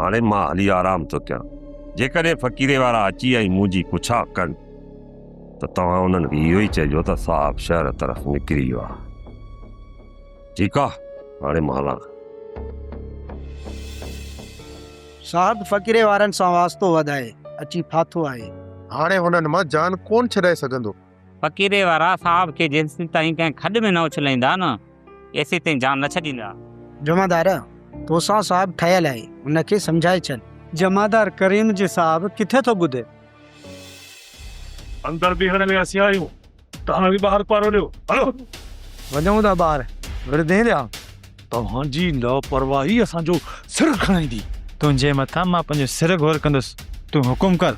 هاڻي مان هلي آرام ٿو ڪيان. جيڪڏهن فقيري وارا اچي ۽ مون جي پڇا ڪن ته توهان انهن کي اهو ئي چئجو ته صاحب شهر طرف نڪري ويو آهي. ٺيڪ آهي، هاڻي مان هلان ٿو. صاحب فقيري وارن سان واسطو وڌائي اچي ڦاٿو آهي. هاڻي هنن مان جان ڪونه ڇڏائي سگهندو. فقيري وارا صاحب کي جيسين تائين ڪنهن کڏ ۾ نه اڇلائيندا نه ايسين تائين جان نه ڇڏيندا. جمعدار، توسان صاحب ٺهيل آهي، ان کي سمجهائي ڇڏ. جمعدار، ڪريم جي صاحب ڪٿي ٿو ٻڌي. اندر بيهڻ ۾ اسين آهيون، توهان به ٻاهر پاروليو، هلو. وڃون ٿا ٻاهر، وردين ڏيان. توهان جي لاپرواهي اسان جو سر کڻائيندي. تنهنجي مٿان مان پنهنجو سر گهور ڪندس، تون حڪم ڪر.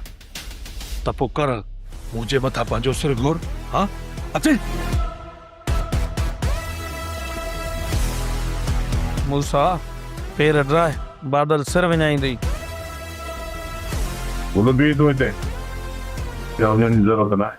ته پوء ڪر مون جي مٿان پنهنجو سر گهور، ها اچ! موسيٰ پير ڊاهه، بادل سر وڃائيندي. بلبي تون هتي، يا وڃڻ جي ضرورت ناهي.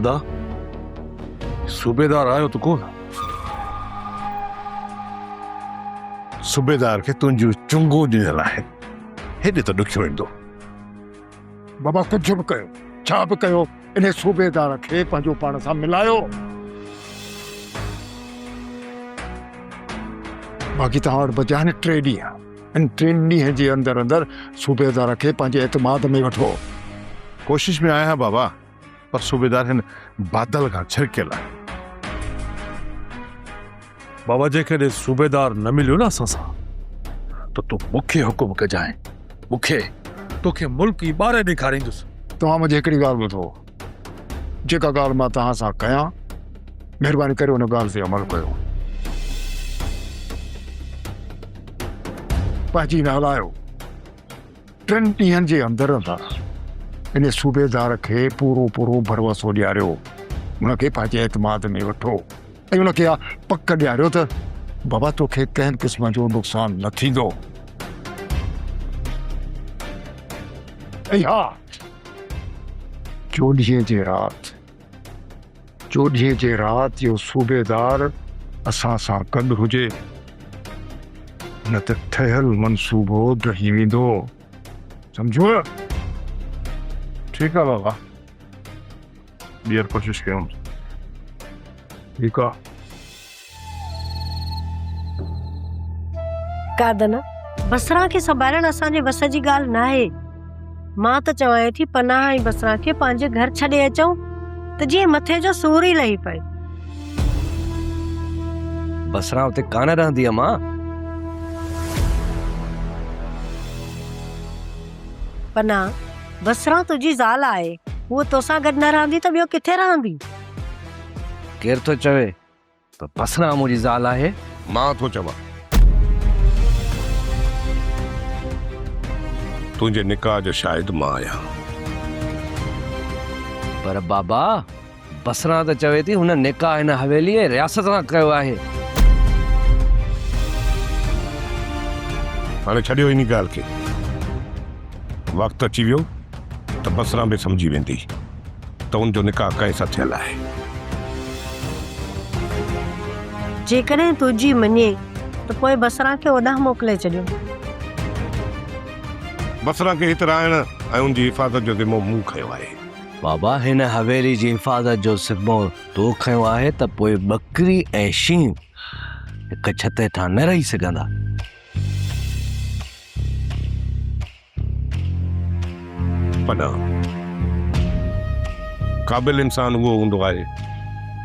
ادا صوبيدار آيو ته ڪونه صوبيدار کي تنهنجون چنگون ڏنل آهن هيڏي ته ڏکيو ايندو بابا ڪجهه به ڪيو ڇا به ڪيو ان صوبيدار کي پنهنجو پاڻ سان ملايو باقي توهان وٽ بچيا آهن ٽي ڏينهن ان ٽن ڏينهن جي اندر اندر صوبيدار کي پنهنجي اعتماد ۾ وٺو. ڪوشش ۾ آهيان بابا. پر صوبيدار هن بادل کان ڇرڪيل آهي. بابا جيڪڏهن صوبيدار نه مليو نه اسان سان ته تون مون کي حڪم ڪجانء. مون کي توکي ملڪ ئي ٻاري ڏيکاريندس. توهان منهنجي هڪڙي ڳالهه ٻڌو. جيڪا ڳالهه مان توهان سان ڪيان، مهرباني ڪري ان ڳالهه تي عمل ڪيو. پنهنجي نه هلايو. ٽن ڏينهن جي اندر اندر ان صوبيدار کي پورو پورو ڀروسو ڏياريو، ان کي پنهنجي اعتماد ۾ وٺو ۽ ان کي اها پڪ ڏياريو ته بابا توکي ڪنهن قسم جو نقصان نه ٿيندو. ۽ ها! چوڏهينء جي رات. چوڏهينء جي رات جو صوبيدار اسان سان گڏ هجي، نه ته ٺهيل منصوبو ڊهي ويندو. سمجهيو نه؟ ٺيڪ آ بابا، ٻيهر ڪوشش ڪيون. ٺيڪ آ. قادن، بصره کي سنڀالڻ اسان جي وس جي ڳالهه ناهي. مان ته چوان ٿي پناهه ۽ بصره کي پنهنجي گهر ڇڏي اچون ته جيئن مٿي جو سور ئي لهي پئي. بصره اتي ڪانه رهندي امان. پناهه، بصره تنهنجي زال آهي. هوء توسان گڏ نه رهندي ته ٻيو ڪٿي رهندي. ڪير ٿو چوي پر بسرا منهنجي زال آهي. مان ٿو چوان. تنهنجي نڪاح جو شاهد مان آهيان. پر بابا بسرا ته چوي ٿي هن نڪاح هن حويلي ۽ رياست سان ڪيو آهي. هاڻي ڇڏيو انهي ڳالهه کي. وقت اچي ويو ته بسرا به سمجهي ويندي. ته ان جو نڪاح ڪنهن سان ٿيل آهي؟ جيڪڏهن تنهنجي مڃي ته پوء بصره کي اوڏانهن موڪلي ڇڏيو. بصره کي هت رهائڻ ۽ ان جي حفاظت جو ذمو مون کنيو آهي. بابا هن حويلي جي حفاظت جو ذمو تو کنيو آهي ته پوء ٻڪري ۽ شينهن هڪ ڇت هيٺان نه رهي سگهندا. پناهه، قابل انسان اهو هوندو آهي،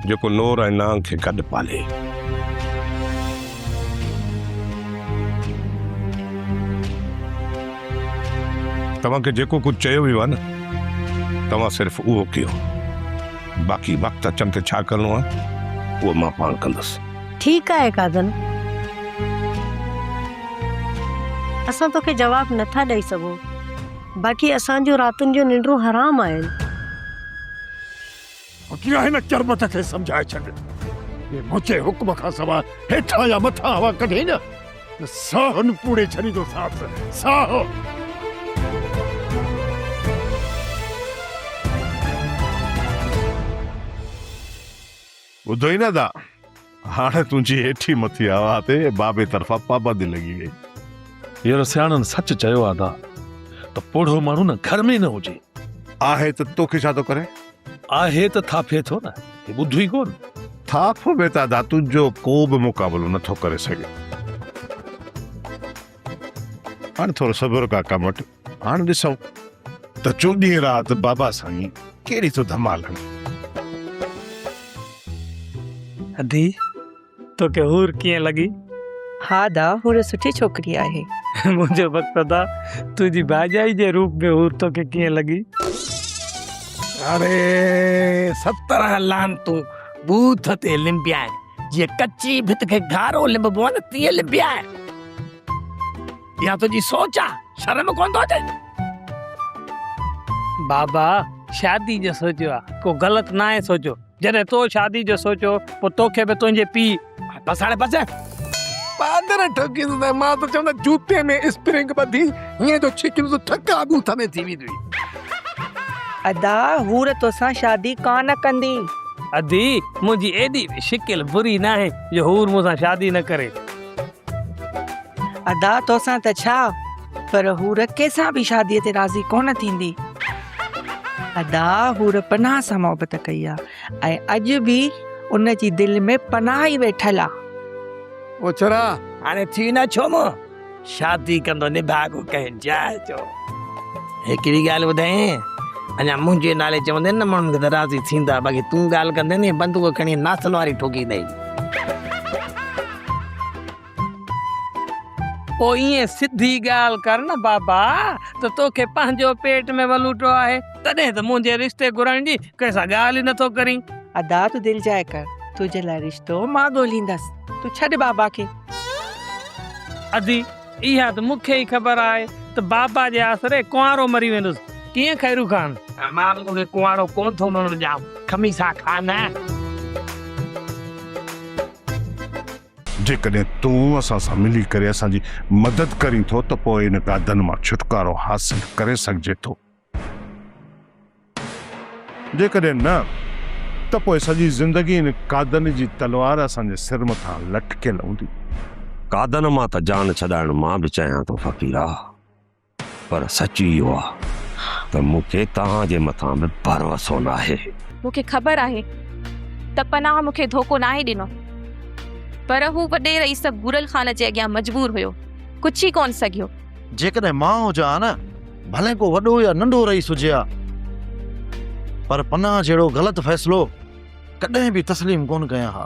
جيڪو نور ۽ نانگ کي گڏ پالي. توهان کي جيڪو ڪجهه چيو ويو آهي نه، توهان صرف اهو ڪيو، باقي وقت اچڻ تي ڇا ڪرڻو آهي، اهو مان پاڻ ڪندس. ٺيڪ آهي ڪاڌن، اسان توکي جواب نه ٿا ڏئي سگهون، باقي اسان جون راتن جون ننڊون حرام آهن. اڳيان هن چرٻٽ کي سمجهائي ڇڏ، جي منهنجي حڪم کان سواء هيٺان يا مٿان هوا ڪڍي نه، ته ساهه هن پوڙهي ڇڏيندوسانس، ساهه! ٻڌو ئي نه ادا، هاڻي تنهنجي هيٺي مٿي هوا تي بابي طرفان پابندي لڳي ويئي. يار سياڻن سچ چيو آ ادا ته پوڙهو ماڻهو نه گهر ۾ ئي نه هجي. آهي ته توکي ڇا ٿو ڪري؟ آهي ته ٿاڦي ٿو نه، هي ٻڌو ئي ڪونه. ٿاڦ ۾ ته ادا تنهنجو ڪو به مقابلو نه ٿو ڪري سگهي. هاڻي ٿورو صبر ڪا ڪم وٺ. هاڻ ڏسون ته چوڏهين رات بابا سائين ڪهڙي ٿو ڌمال هڻي. ادي توکي حور ڪيئن لڳي؟ ها ادا حور سٺي ڇوڪري آهي. منهنجو وقت ادا تنهنجي ڀائجائي جي روپ ۾ حور توکي ڪيئن لڳي؟ اڙي سترهن لعنتون بوٿ تي لنبيائين جيئن ڪچي ڀت کي گهارو لنببو آهي نه تيئن لنبيائين. اها تنهنجي سوچ آ شرم ڪونه ٿو اچي. بابا شادي جو سوچيو آ ڪو غلط ناهي سوچيو جڏهن تو شادي جو سوچيو پو توکي به تنهنجي پي. بس هاڻي بس. پادر ٺوڪيندو ته مان ته چوندو جوتي ۾ اسپرنگ ٻڌي هيئن ٿو ڇڪيندو ته ٺڪا ڳوٺ ۾ ٿي ويندي. ادا حور توسان شادي ڪانه ڪندي. ادي منهنجي ايڏي به شڪل بري ناهي جو حور مون سان شادي نه ڪري. ادا توسان ته ڇا پر حور ڪيسان به شادي تي راضي ڪونه ٿيندي. ادا حور پناهه سان محبت ڪئي آ ۽ اڄ به ان جي دل ۾ پناهه ئي ويٺل آ. اوڇرا هاڻي ٿي نه ڇو مون شادي ڪندو نڀاڳو ڪنهن جاء جو. هڪڙي ڳالهه ٻڌايين اڃا منهنجي نالي چوندين نه ماڻهن کي ته راضي ٿيندا باقي تون ڳالهه ڪندين هي بندوق کڻي ناسن واري ٺوڪيندين. پوء ائين سڌي ڳالهه ڪر نه بابا ته توکي پنهنجو پيٽ ۾ ولوٽو آهي تڏهن ته منهنجي رشتي گهرائڻ جي ڪنهن سان ڳالهه ئي نٿو ڪرين. ادا تون دل جاء ڪر تنهنجي لاء رشتو مان ڳوليندس تون ڇڏ بابا کي. ادي اها ته مون کي ئي خبر آهي ته بابا جي آسري ڪنوارو مري ويندس ڪيئن خيرو خان. مان به توکي ڪنوارو ڪونه ٿو مرڻ ڏيان خميسا خان. جيڪڏهن تون اسان سان ملي ڪري اسان جي مدد ڪرين ٿو ته پوء ان گادن مان ڇوٽڪارو حاصل ڪري سگهجي ٿو. جيڪڏهن نه ته پوء سڄي زندگي ان گادن جي تلوار اسان جي سر مٿان لٽڪيل هوندي. گادن مان ته جان ڇڏائڻ مان به چاهيان ٿو فقيرا. پر سچ اهو آ ته مون کي توهان جي مٿان به ڀروسو ناهي. مون کي خبر آهي ته پناهه مون کي ڌوڪو ناهي ڏنو پر هو وڏي رئيس ڀورل خان جي اڳيان مجبور هيو، ڪڇي ڪونه سگهيو. جيڪڏهن مان هجان ها نه، ڀلي ڪو وڏو يا ننڍو رئيس هجي ها پر پناهه جهڙو غلط فيصلو ڪڏهن به تسليم ڪونه ڪيان ها.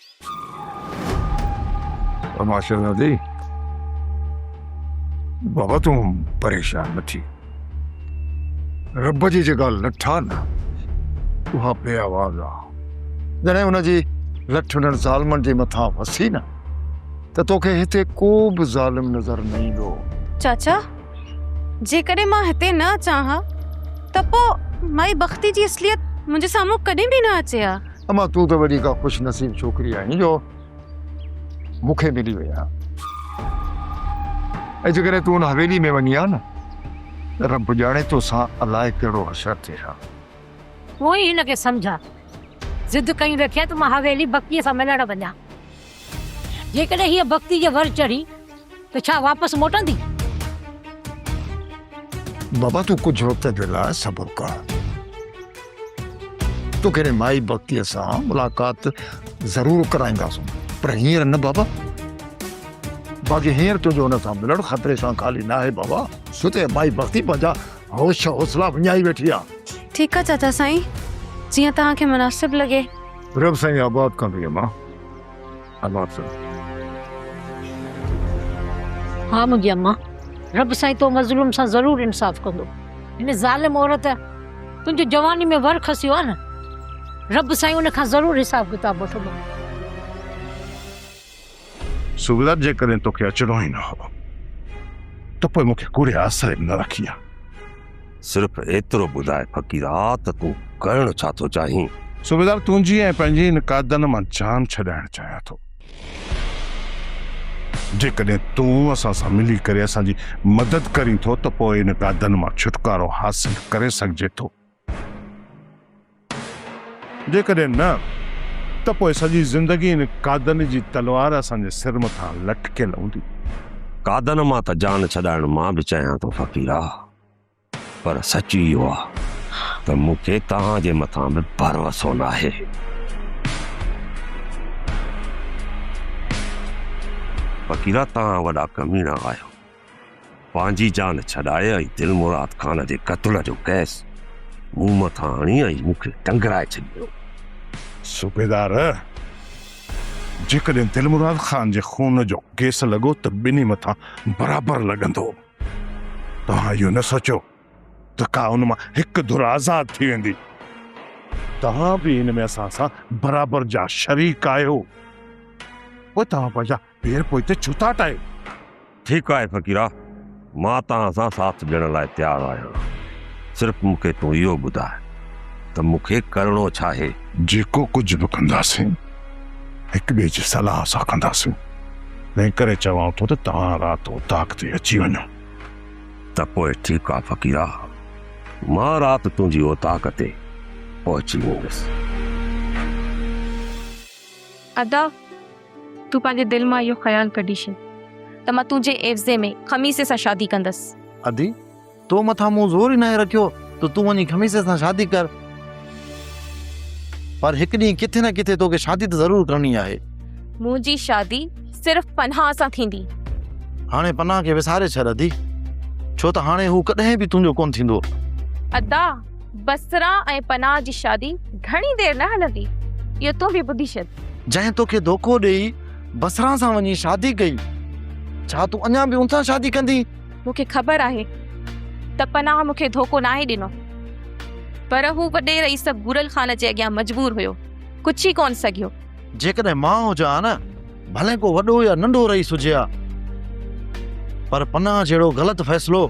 اما شهزادي بابا تون پريشان نه ٿي رب جي جيڪا لٺ آ نه اها بي آواز آ جڏهن ان جي لٺ انهن ظالمن جي مٿان وسي نه ته توکي هتي ڪو به ظالم نظر نه ايندو چاچا جيڪڏهن مان هتي نه اچان ها ته پوء مائي بختي جي اصليت منهنجي سامهون ڪڏهن به نه اچي ها اما تون ته وڏي ڪا خوش نصيب ڇوڪري آهين جو مون کي ملي وئي آهي ۽ جيڪڏهن تون ان حويلي ۾ وڃي ها نه ته رب ڄاڻي توسان الاء ڪهڙو حشر ٿئي ها. پوء هن کي سمجهاء. ضد ڪيون رکيا ته مان حويلي بڪيء سان ملڻ وڃان. جيڪڏهن هيء بختي جي ور چڙهي ته ڇا واپس موٽندي؟ بابا تون ڪجهه وقت جي لاء صبر ڪر. توکي هن مائي بختيء سان ملاقات ضرور ڪرائينداسون. پر هينئر نه بابا. باقي هينئر تنهنجو هن سان ملڻ خطري سان خالي ناهي بابا. ڇو ته مائي بختي پنهنجا هوش حوصلا وڃائي ويٺي آهي. ٺيڪ آهي چاچا سائين. جيئن توهان کي مناسب لڳي. رب سائين آباد ڪندو يم ها اماڻ صاحب. ها منهنجي امان رب سائين تو مظلوم سان ضرور انصاف ڪندو هن ظالم عورت تنهنجو جواني ۾ ور کسيو آ نه رب سائين ان کان ضرور حساب ڪتاب وٺندو. سوڀدار جيڪڏهن توکي اچڻو ئي نه هو ته پوء مونکي ڪوڙي آسري به نه رکي ها. صرف ايترو ٻڌاء فقيرا ته تون ڪرڻ ڇا ٿو چاهين؟ سوڀدار تنهنجي ۽ پنهنجي هن ڪادن مان جان ڇڏائڻ چاهيان ٿو. جيڪڏهن تون اسان سان ملي ڪري اسان جي مدد ڪرين ٿو ته پوء ان ڪادن مان ڇوٽڪارو حاصل ڪري سگهجي ٿو. جيڪڏهن نه ته پوء سڄي زندگي ان قادن جي تلوار اسان جي سر مٿان لٽڪيل هوندي. قادن مان ته جان ڇڏائڻ مان به چاهيان ٿو فقيرا، پر سچ اهو آ ته مون کي توهان جي مٿان به ڀروسو ناهي. فقيرا توهان وڏا ڪميڻا آهيو. پنهنجي جان ڇڏائي ۽ دلمراد خان جي قتل جو ڪيس مون مٿان هڻي ۽ مون کي ٽنگرائي ڇڏيو. صوبيدار! جيڪڏهن دلمراد خان جي خون جو ڪيس لڳو ته ٻنهي مٿان برابر لڳندو. توهان اهو نه سوچيو ته ڪا ان مان هڪ ڌر آزاد ٿي ويندي. توهان به ان ۾ اسان سان برابر جا شريڪ آهيو. پوء توهان پنهنجا پير پوء اتي ڇو ٿا ٽاهيو؟ ٺيڪ آهي فقيرا، مان توهان سان ساٿ ڏيڻ لاء تيار آهيان، صرف مون کي تون اهو ٻڌاء ته مون کي ڪرڻو ڇا آهي؟ جيڪو ڪجهه به ڪنداسين، هڪ ٻئي جي صلاح سان ڪنداسين، تنهن ڪري چوان ٿو ته توهان رات اوطاق تي اچي وڃو. ته پوء ٺيڪ آهي فقيرا، مان رات تنهنجي اوطاق تي پهچي ويندس. ادا! تون پنهنجي دل مان اهو خيال ڪڍي ڇڏ ته مان تنهنجي عيوضي ۾ خميسي سان شادي ڪندس. ادي، تو مٿان مون زور ئي ناهي رکيو ته تون وڃي خميسي سان شادي ڪر. پر هڪ ڏينهن ڪٿي نه ڪٿي توکي شادي ته ضرور ڪرڻي آهي. منهنجي شادي صرف پناهه سان ٿيندي. هاڻي پناهه کي وساري ڇڏ ادي، ڇو ته هاڻي هو ڪڏهن به تنهنجو ڪونه ٿيندو. ادا! بصره ۽ پناه جي شادي گهڻي دير نه هلندي، اهو تون به ٻڌي ڇڏ. جنهن توکي ڌوڪو ڏيئي بصره سان وڃي شادي ڪئي، ڇا تون اڃا به ان سان شادي ڪندين؟ مون کي خبر آهي ته پناه مون کي ڌوڪو ناهي ڏنو، پر هو وڏي رئيس بورل خان جي اڳيان مجبور هيو، ڪڇي ئي ڪونه سگهيو. جيڪڏهن مان هجان ها نه، ڀلي ڪو وڏو يا ننڍو رئيس هجي ها، پر پناه جهڙو غلط فيصلو!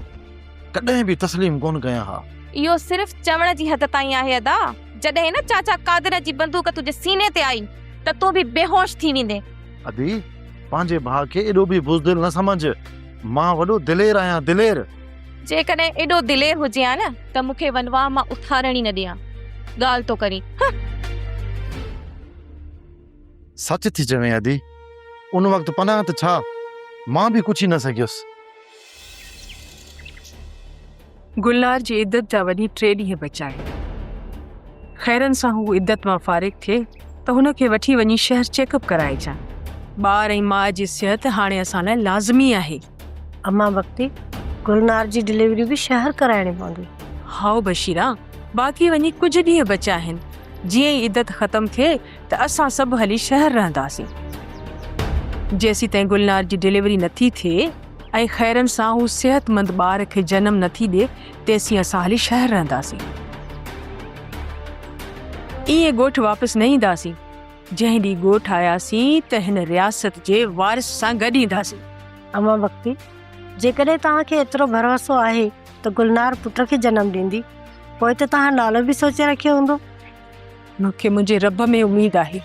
ڪڏهن به تسليم ڪونه ڪيا ها. اهو صرف چوڻ جي حد تائين آهي ادا، جڏهن نه چاچا قادر جي بندوق تنهنجي سيني تي آئي ته تون به بيهوش ٿي ويندين. ادي پنهنجي ڀاء کي ايڏو به بزدل نه سمجهه، مان وڏو دلير آهيان دلير. جيڪڏهن ايڏو دلير هجي ها نه ته مون کي ونواهه مان اٿارڻ ئي نه ڏي ها. ڳالهه ٿو ڪرين هه. سچ ٿي چوين ادي، ان وقت پناهه ته ڇا مان به ڪڇي نه سگهيس. گلنار جي عدت جا وڃي ٽي ڏينهن بچا آهن. خيرن سان هو عدت مان فارغ ٿئي ته هن کي وٺي وڃي شهر چيڪ اپ ڪرائي اچان. ٻار ۽ ماء جي صحت هاڻي اسان لاء لازمي آهي. امان بختي، گلنار جي ڊليوري به شهر ڪرائڻي پوندي. هائو بشيرا، باقي وڃي ڪجهه ڏينهن بچا آهن. جيئن ئي عدت ختم ٿئي ته اسان سڀ هلي شهر رهنداسين. جيسيتائين گلنار جي ڊليوري نٿي ٿئي. ۽ خيرن سان هو صحتمند ٻار کي جنم نه ٿي ڏي تيسين اسان هلي شهر رهنداسين. ائين ڳوٺ واپس نه اينداسين. جنهن ڏينهن ڳوٺ آياسين ته هن رياست جي وارث سان گڏ اينداسين. امان بختي، جيڪڏهن توهان کي ايترو ڀروسو آهي ته گلنار پٽ کي جنم ڏيندي پوء ته توهان نالو به سوچي رکيو هوندو. مون کي منهنجي رب ۾ اميد آهي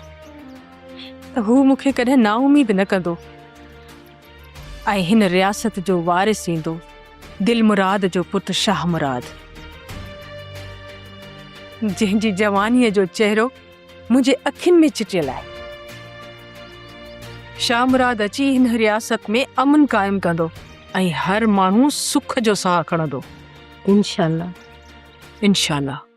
ته هو مون کي ڪڏهن نااميد نه ڪندو. ۽ هن رياست جو وارث ايندو دل مراد جو پٽ شاهه مراد. جنهن جي جوانيء جو چهرو منهنجي اکين ۾ چٽيل آهي. شاهه مراد اچي هن رياست ۾ امن قائم ڪندو ۽ هر ماڻهو سک جو ساهه کڻندو. انشاء الله. انشاء الله.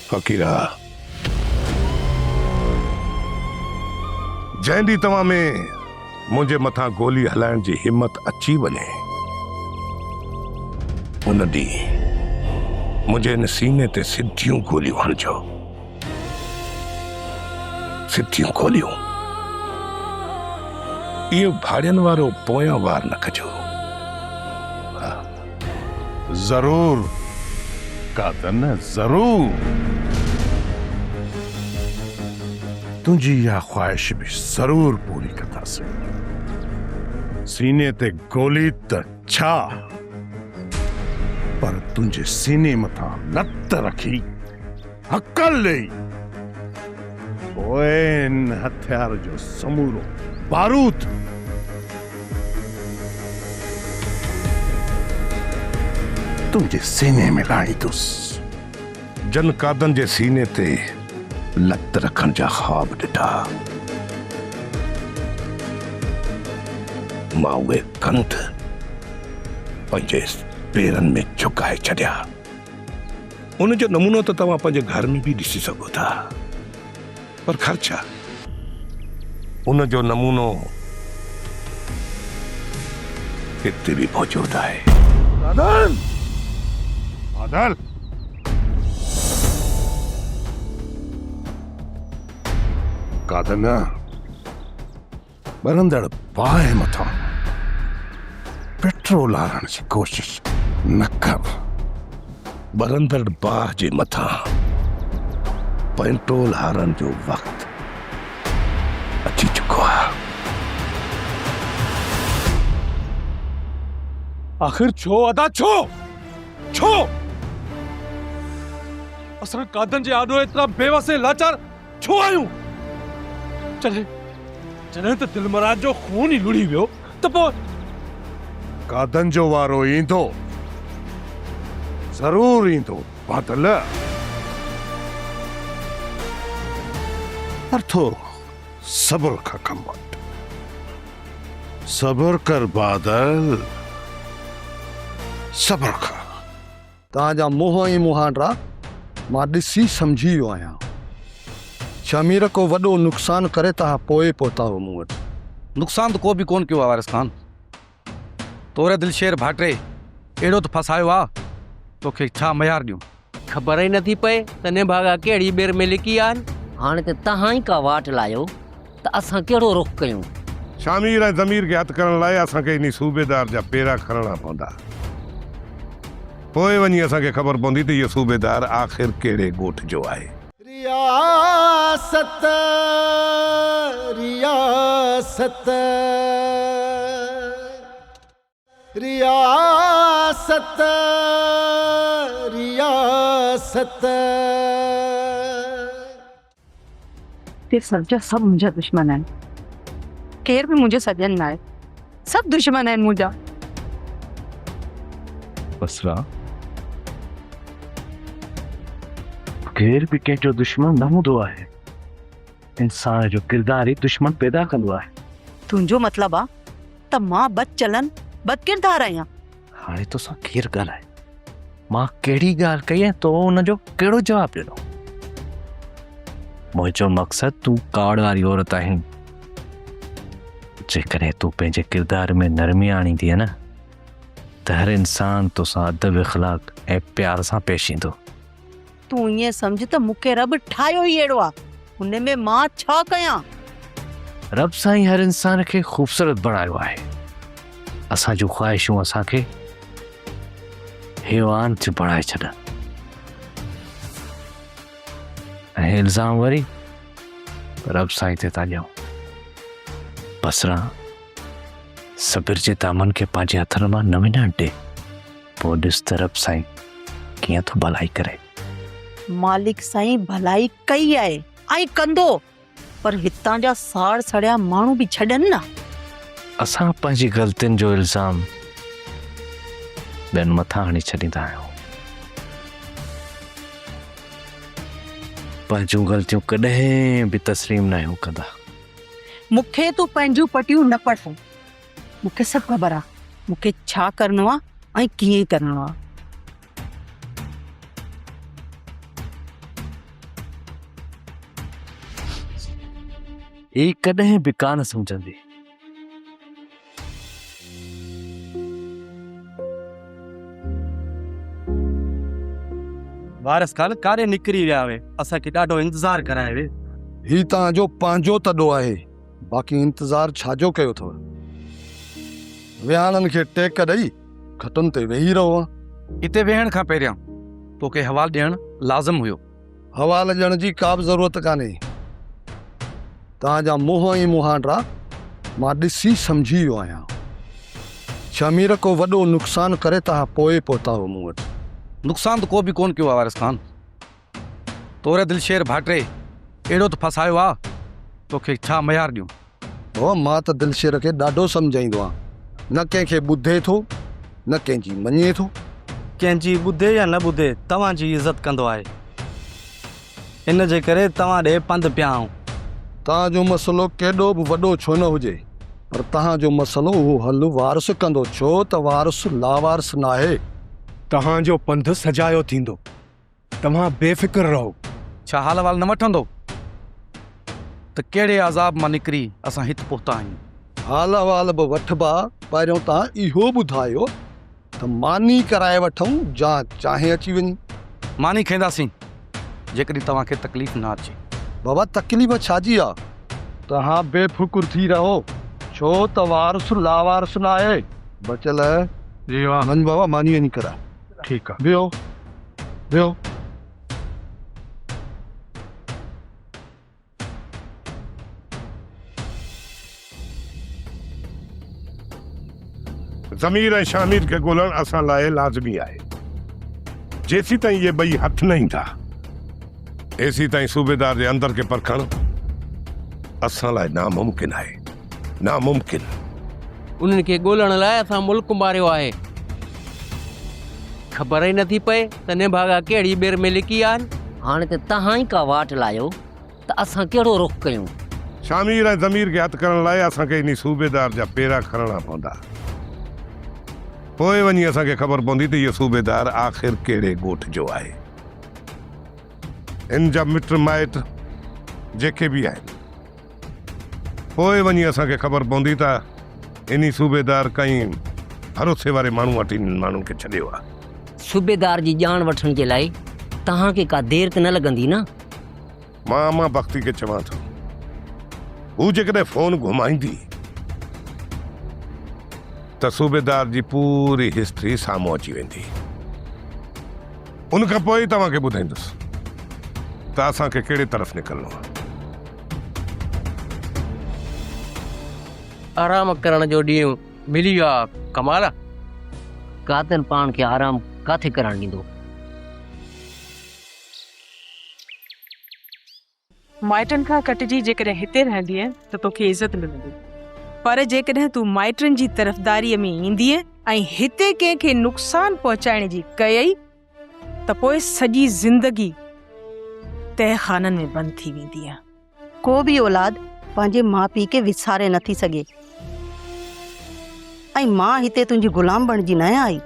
فقيرا! جنهن ڏينهن توهان ۾ منهنجي مٿان گولي هلائڻ جي همت اچي وڃي، ان ڏينهن منهنجي هن سيني تي سڌيون گوليون هڻجو. سڌيون گوليون. اهو ڀاڙين وارو پويان وار نه ڪجو. ضرور قادر نه ضرور. تنهنجي اها خواهش به ضرور پوري ڪنداسين. سيني تي گولي ته ڇا پر تنهنجي سيني مٿان لت رکي. هڪل ڏئي پوء هن هٿيار جو سمورو بارود. تنهنجي سيني ۾ لاڙيندس. جن قادن جي سيني تي لت رکڻ جا خواب ڏٺا، مان اهي ڪنڌ پنهنجي پيرن ۾ جهڪائي ڇڏيا. ان جو نمونو ته توهان پنهنجي گهر ۾ به ڏسي سگهو ٿا پر گهر ڇا ان جو نمونو هتي به موجود آهي. بادل! بادل! قادر نه ٻرندڙ باهه مٿان پيٽرول آرڻ جي ڪوشش نه ڪر. ٻرندڙ باهه جي مٿان پيٽرول آرڻ جو وقت اچي چڪو آهي. آخر ڇو ادا ڇو؟ ڇو؟ اسان قاعدن جي آڏو ايترا بيوس ۽ لاچار ڇو آيون؟ جڏهن جڏهن ته دلمراد جو خون ئي لڙهي ويو ته پوء. گادن جو وارو ايندو. ضرور ايندو بادل. پر ٿورو صبر کان ڪم وٺ. صبر ڪر بادل. صبر کان. توهان جا منهن ۽ مهانڊا مان ڏسي سمجهي ويو آهيان. شهمير ڪو وڏو نقصان ڪري توهان پوء پهتاهو مون وٽ. نقصان ته ڪو به ڪونه ڪيو آهي وارث خان. توري دلشير ڀاٽي اهڙو ته ڦاسايو آهي، توکي ڇا مهيار ڏيون. خبر ئي نٿي پئي ته نڀاڳا ڪهڙي ٻير ۾ لڪي آهن. هاڻي ته توهان ئي ڪا واٽ لاهيو. ته اسان ڪهڙو رخ ڪيون؟ شامير ۽ ضمير کي هٿ ڪرڻ لاء اسان کي انهي صوبيدار جا پيرا کڻڻا پوندا. پوء وڃي اسان کي خبر پوندي ته اهو صوبيدار آخر ڪهڙي ڳوٺ جو آهي. رياست رياست. رياست رياست. ڪي سڀ جا سڀ منهنجا دشمن آهن. ڪير به منهنجو سڄڻ ناهي. سڀ دشمن آهن منهنجا. بصره، ڪير به ڪنهن جو دشمن نه هوندو آهي. انسان جو ڪردار ئي دشمن پيدا ڪندو آهي. تنهنجو مطلب آ ته مان بد چلن بد ڪردار آهيان. هاڻي توسان ڪير ڳالهائي؟ مان ڪهڙي ڳالهه ڪئي ۽ تو ان جو ڪهڙو جواب ڏنو؟ منهنجو مقصد تون ڪاوڙ واري عورت آهين. جيڪڏهن تون پنهنجي ڪردار ۾ نرمي آڻيندينء نه ته هر انسان توسان ادب اخلاق ۽ پيار سان پيش ايندو. تون ائين سمجهه ته مون کي رب ٺاهيو ئي اهڙو آ، ان ۾ مان ڇا ڪيان؟ رب سائين هر انسان کي خوبصورت بڻايو آهي، اسان جون خواهشون اسان کي حيوان ٿيون بڻائي ڇڏن ۽ الزام وري رب سائين تي ٿا ڏيون بصرا صبر جي دامن کي پنهنجي هٿن مان نه وڃڻ ڏي پوء ڏس ته رب سائين ڪيئن ٿو ڀلائي ڪري. مالڪ سائين ڀلائي ڪئي آهي ۽ ڪندو پر هتان جا ساڙ سڙيا ماڻهو به ڇڏن نه. اسان پنهنجي غلطين جو الزام ٻين مٿان هڻي ڇڏيندا آهيون. پنهنجون غلطيون ڪڏهن به تسليم ناهيون ڪندا. مون کي تون پنهنجون پٽيون نه پڙهه مون کي سڀ خبر آ مون کي ڇا ڪرڻو آ ۽ ڪيئن ڪرڻو آ. هي ڪڏهن به ڪانه سمجهندي. وارث خان ڪاڏي نڪري ويا هي اسان کي ڏاڍو انتظار ڪرايو هي. هي توهان جو پنهنجو تڏو آهي. باقي انتظار ڇا جو ڪيو اٿئو؟ ويهاڻن کي ٽيڪ ڏئي کٽن تي ويهي رهو ها. اتي ويهڻ کان پهريان توکي حوال ڏيڻ لازم هيو. حوال ڏيڻ جي ڪا به ضرورت ڪانهي. توهان جا منهن ۽ مهانڊا مان ڏسي سمجهي ويو آهيان. ڇا مير ڪو وڏو نقصان ڪري توهان پوء پهتا هئو مون وٽ؟ نقصان ته ڪو به ڪونه ڪيو آهي وارث خان. توري دلشير ڀاٽي اهڙو ته ڦاسايو آ، توکي ڇا ميار ڏيون. هو مان ته دلشير کي ڏاڍو سمجهائيندو آهيان، نه ڪنهن کي ٻڌي ٿو، نه ڪنهن جي مڃي ٿو. ڪنهن جي ٻڌي يا نه ٻڌي توهان جي عزت ڪندو آهي، ان جي ڪري توهان ڏي پنڌ پيا آئون. توهان جو مسئلو ڪيڏو به وڏو ڇو نه هجي، پر توهان جو مسئلو اهو حل وارث ڪندو، ڇو ته وارث لاوارث ناهي. توهان جو پنڌ سجايو ٿيندو. توهان بي فڪر رهو. ڇا حال احوال نه وٺندو ته ڪهڙي عذاب مان نڪري اسان هت پهتا آهيون. حال احوال به وٺبا پهريون توهان اهو ٻڌايو ته ماني ڪرائي وٺون جا چانهه اچي وڃي. ماني کائينداسين جيڪڏهن توهان کي تڪليف نه اچي. بابا تڪليف ڇا جي آ. توهان بي فڪر ٿي رهو ڇو ته وارث لاوارث ناهي بچل. جي ها. وڃ بابا ماني وڃي ڪرائي. ٺيڪ آ ويهو ويهو. ضمير ۽ شهمير کي ڳولڻ اسان لاء لازمي آهي. جيسيتائين اهي ٻئي هٿ نه ايندا تيسيتائين صوبيدار جي اندر کي پرکڻ اسان لاء ناممڪن آهي. ناممڪن. انهن کي ڳولڻ لاء اسان ملڪ ماريو آهي. خبر ئي نٿي پئي ته نڀاڳا ڪهڙي ٻير ۾ لڪي آهن. هاڻي ته توهان ئي ڪا واٽ لايو ته اسان ڪهڙو رخ ڪيون. شامير ۽ ضمير کي هٿ ڪرڻ لاء اسان کي انهي صوبيدار جا پيرا کڻڻا پوندا. پوء وڃي اسان کي خبر پوندي ته اهو صوبيدار آخر ڪهڙي ڳوٺ جو آهي. هن جا مٽ مائٽ جيڪي به آهن. پوء وڃي اسان کي خبر پوندي ته انهي صوبيدار ڪئين ڀروسي واري ماڻهو وٽ انهن ماڻهن کي ڇڏيو آهي. صوبيدار جي ڄاڻ وٺڻ جي لاء توهان کي ڪا دير ته نه لڳندي نه؟ مان امان بختي کي چوان ٿو، هو جيڪڏهن فون گهمائيندي ته صوبيدار جي پوري هسٽري سامهون اچي ويندي. ان کان پوء ئي توهان کي ٻڌائيندس ته اسان کي ڪهڙي طرف نڪرڻو آهي. آرام ڪرڻ جو ڏينهن ملي ويو آ ڪمال. قاتل پاڻ کي آرام ڪاٿي ڪرڻ ڏيندو. مائٽن کان ڪٽجي جيڪڏهن هتي رهندينء ته توکي عزت ملندي. پر جيڪڏهن تون مائٽن جي طرفداريء ۾ ايندينء ۽ هتي ڪنهن کي نقصان پهچائڻ جي ڪيئي ته پوء سڄي زندگي تهه خانن ۾ بند ٿي وينديء. ڪو به اولاد پنهنجي ماء پيء کي وساري نه ٿي سگهي ۽ مان هتي تنهنجي غلام بڻجي نه آئي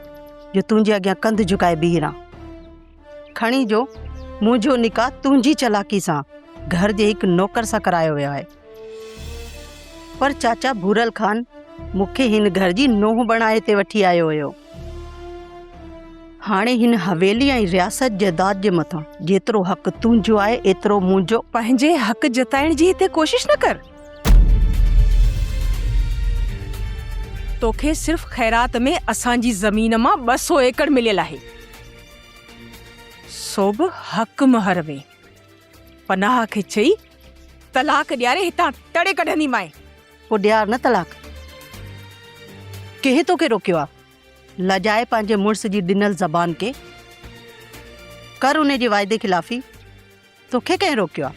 جو تنهنجي اڳيان ڪنڌ جهڪائي بيهي رهان. کڻي جو منهنجو نڪاح تنهنجي چالاڪي سان گهر جي هڪ نوڪر سان ڪرايو ويو آهي. پر چاچا ڀورل خان مون کي هن گهر جي نونهن بڻائي هتي وٺي آيو هيو. هاڻي هن حويلي ۽ رياست جائيداد جي مٿان جيترو حق تنهنجو آهي ايترو منهنجو. پنهنجي حق جتائڻ جي هتي ڪوشش نه ڪر. توکي صرف خيرات ۾ اسان جي زمين مان ٻه سو ايڪڙ مليل آهي. سو به حق مهر ۾. پناهه کي چئي، طلاق ڏياري هتان تڙي ڪڍنديمانء. پوء ڏيار نه طلاق. ڪنهن توکي روڪيو آ؟ لڄائي پنهنجي مڙس جي ڏنل زبان کي ڪر انهي جي واعدي خلافي توکي ڪنهن روڪيو آ؟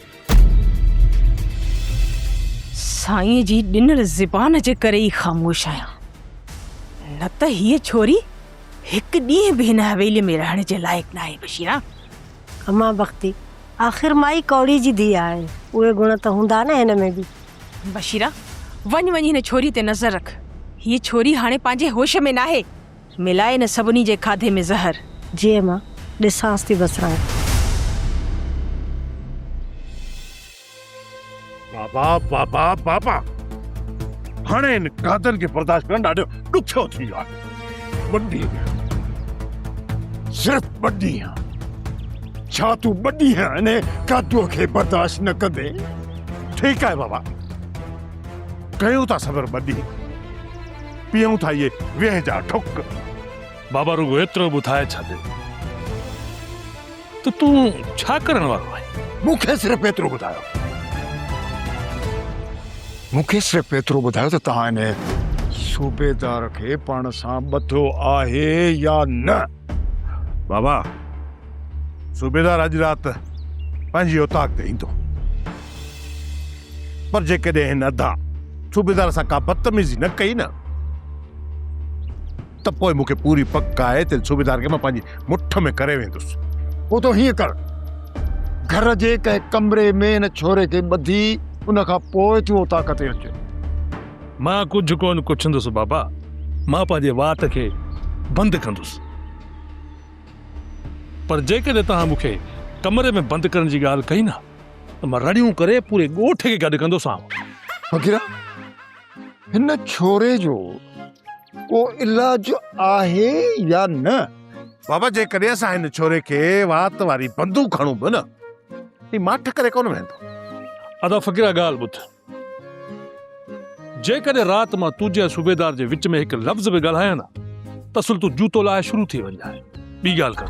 سائين جي ڏنل زبان جي ڪري ئي خاموش آهيان. نه ته هيء ڇوري هڪ ڏينهن به هن حويليء ۾ رهڻ جي لائق ناهي بشيرا! امان بختي، آخر مائي ڪوڙي جي ڌيء آهي، اهي گڻ ته هوندا نه هن ۾ به. بشيره، وڃ وڃ هن ڇوري تي نظر رک، هيء ڇوري هاڻي پنهنجي هوش ۾ ناهي، ملائي هن سڀني جي کاڌي ۾ زهر. جي امان، ڏسانس ٿي بسراڻي. بابا بابا بابا هاڻي ان قاتل کي برداشت ڪرڻ ڏاڍو ڏکيو ٿي ويو آهي ٻه ڏينهن صرف ٻه ڏينهن ڇا تون ٻه ڏينهن ان قاتل کي برداشت نه ڪندي ٺيڪ آهي بابا ڪيون ٿا صبر ٻه ڏينهن پيئون ٿا اهي ويهه جا ٺڪ بابا رڳو ايترو ٻڌائي ڇڏ ته تون ڇا ڪرڻ وارو آهين؟ مون کي صرف ايترو ٻڌايو مون کي صرف ايترو ٻڌايو ته توهان ان صوبيدار کي پاڻ سان ٻڌو آهي يا نه؟ بابا صوبيدار اڄ رات پنهنجي اوطاق تي ايندو پر جيڪڏهن هن ادا صوبيدار سان ڪا بدتميزي نه ڪئي نه ته پوء مون کي پوري پڪ آهي ته صوبيدار کي مان پنهنجي مٺ ۾ ڪري ويندس. پوء تون هيئن ڪر، گهر جي ڪنهن ڪمري ۾ هن ڇوري کي ٻڌي ان کان پوء تون اوطاق تي اچ. مان ڪجهه ڪونه ڪڇندس بابا، مان پنهنجي وات کي بند ڪندس. پر جيڪڏهن توهان مون کي ڪمري ۾ بند ڪرڻ جي ڳالهه ڪئي نه ته مان رڙيون ڪري پوري ڳوٺ کي گڏ ڪندوسانء. فقيرا! هن ڇوري جو ڪو علاج آهي يا نه؟ بابا جيڪڏهن اسان هن ڇوري کي وات واري بندوق هڻون به نه هي ماٺ ڪري ڪونه ويندو. ادا فقيرا ڳالهه ٻڌ. جيڪڏهن رات مان تنهنجي ۽ صوبيدار جي وچ ۾ هڪ لفظ به ڳالهايان ها ته اصل تون جوتو لاهي شروع ٿي وڃ ها. ٻي ڳالهه ڪر.